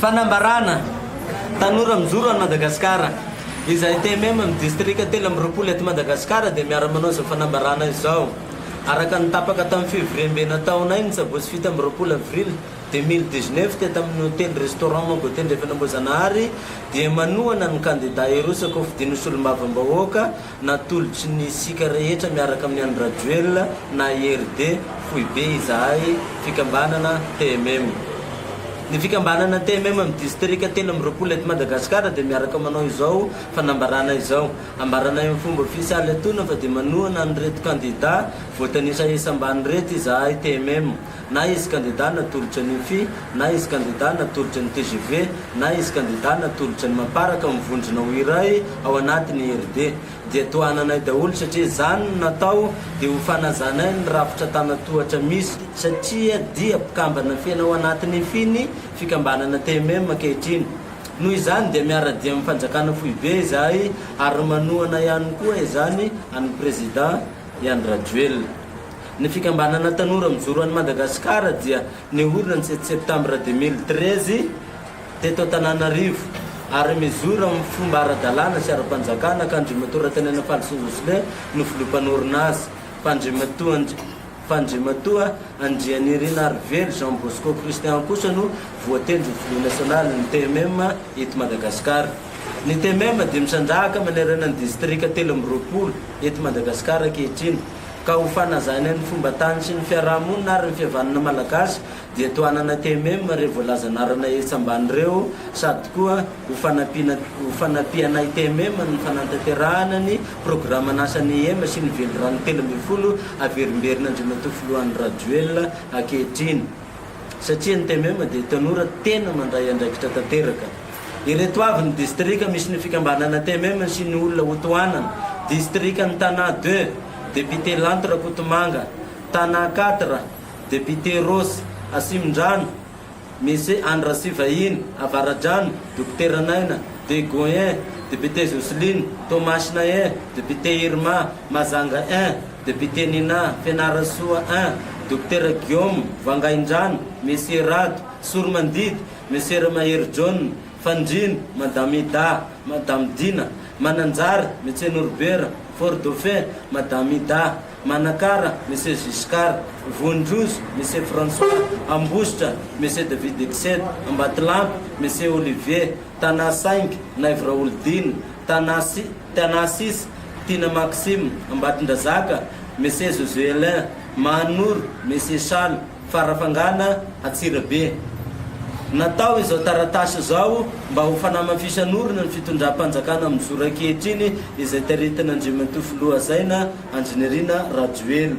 Fanambarana, Tanora mijoro any Madagasikara. Izahay TMM amin'ny distrika telo amby roapolo eto Madagasikara dia miara-manao izao fanambarana izao. Araka ny tapaka tamin'ny fivoriambe nataonay ny sabotsy fito amby roapolo avrily deux mille dix-neuf teto amin'ny hotely restaurant Mango Tendrefana Ambohijanahary dia manohana ny kandida hirosaka ho fidin'ny solombavambahoaka Natolotry ny isika rehetra miaraka amin'ny an-dRajoelina na IRD foibe izahay fikambanana TMM. Ny fikambanana TMM amin'ny distrika telo amby roapolo eto Madagasikara dia miaraka manao izao fanambarana izao, Ambaranay amin'ny fomba ofisialy atoana fa dia manohana an'ireto kandida voatanisa etsy ambany ireto izahay TMM. na izy kandida natolotra ny UFI, na izy kandida natolotra ny tgv, na izy kandida natolotra ny Mapar ka mivondrona ho iray ao anatin i RD dia tohananay daholo satria izany no natao dia ho fanazanay ny rafitra tanatohatra misy satria dia mpikambana fena ao anatin i FI ny fikambanana TMM ankehitriny. Noho izany dia miara-dia amin ny fanjakana foibe izahay ary manohana ihany koa izany an i Président i Andry Rajoelina. Ny fikambanana Tanora Mijoro An'i Madagasikara dia niorina ny sixiy septambra deux mille treize teto Antananarivo ary mijoro amin'ny fomba ara-dalàna sy ara-panjakana ka Andriamatoa Ratanenafalisoa Jocelyn no filoha mpanorina azy fa Andriamatoa fa Andriamatoa Andrianirinarivelo Jean Bosco Christian kosa no voatendry ho filoha nasionalin'ny TMM eto Madagasikara. Ny TMM dia misandrahaka manerana ny distrika telo amby roapolo eto Madagasikara ankehitriny. ka ho fanazany ny fomba tany sy ny fiaraha-monina ary ny fihavanana malagasy dia tohanana TMM ireo voalaza anarana etsy ambany ireo sady koa ho fanampiana ho fanampiana ny TMM amin'ny fanantanterahana ny programan'asan'ny IEM sy ny velirano telo ambin'ny folo averimberina Andriamatoa Filoha Andry Rajoelina ankehitriny. satria ny TMM dia tanora tena mandray andraikitra tanteraka. Ireto avy ny distrika misy ny fikambanana TMM sy ny olona ho tohanana, Distrikan'i Tana deux, Député Lanto Rakotomanga, Tana quatre, Député Rose, Asimondrano, Monsieur Andry Rasivahiny, Avaradrano, Dokotera Naina, Degoin un, Député Jocelyne, Toamasina un, Député Irma, Mahajanga un. Député Nina, Fianarantsoa I, Dokotera Guillaume, Vangaindrano, Monsieur Rado, Sorimandidy, Monsieur Ramahery John, Fandriana, Madame Ida, Madame Dina, Mananjary, Monsieur Noribera, Fort Dauphin, Madame Ida, Manakara, Monsieur Giscard, Vohindrozo, Monsieur François, Ambositra, Monsieur David Exed, Ambatolampy, Monsieur Olivier, Tanà Saingy, Naivo Raholidina, Tanà sy. Tanasis, Tina Maxim, Ambatondrazaka, Mese Josuelin, Mahanoro, Mese Chano, Farafangana, Antsirabe. Natao izao taratasy izao mba ho fanamafisan'orina ny fitondram-panjakana mijoro ankehitriny izay taritin' Andriamatoa Filoha Hazaina Andry Nirina Rajoelina.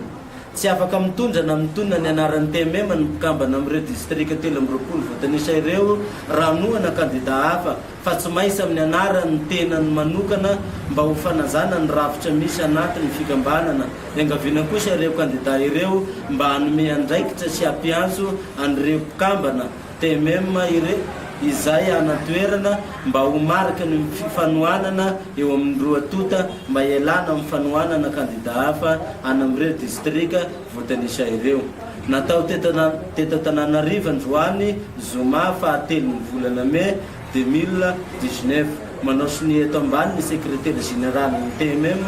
Tsy afaka mitondra na mitonona ny anaran'ny TMM ny mpikambana amin'ireo distrika telo amby roapolo voatanisa ireo raha noana kandidà hafa fa tsy maintsy amin'ny anaran'ny tenany manokana mba ho fanajana ny rafitra misy anaty ny fikambanana, iangaviana kosa ireo kandida ireo mba hanome andraikitra sy hampiantso an'ireo mpikambana, TMM, ire, izay any an-toerana mba ho mariky ny fifanohanana eo amin'ny roa tonta mba hialana amin'ny fanohanana kandida hafa any amin'ireo distrika. Voatanisa ireo. Natao teto Antananarivo androany zoma faha telo ny volana mey deux mille dix-neuf. Manao sonia eto ambany ny sekretera jeneralin'ny TMM,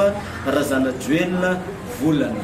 Razanajoelina Volana.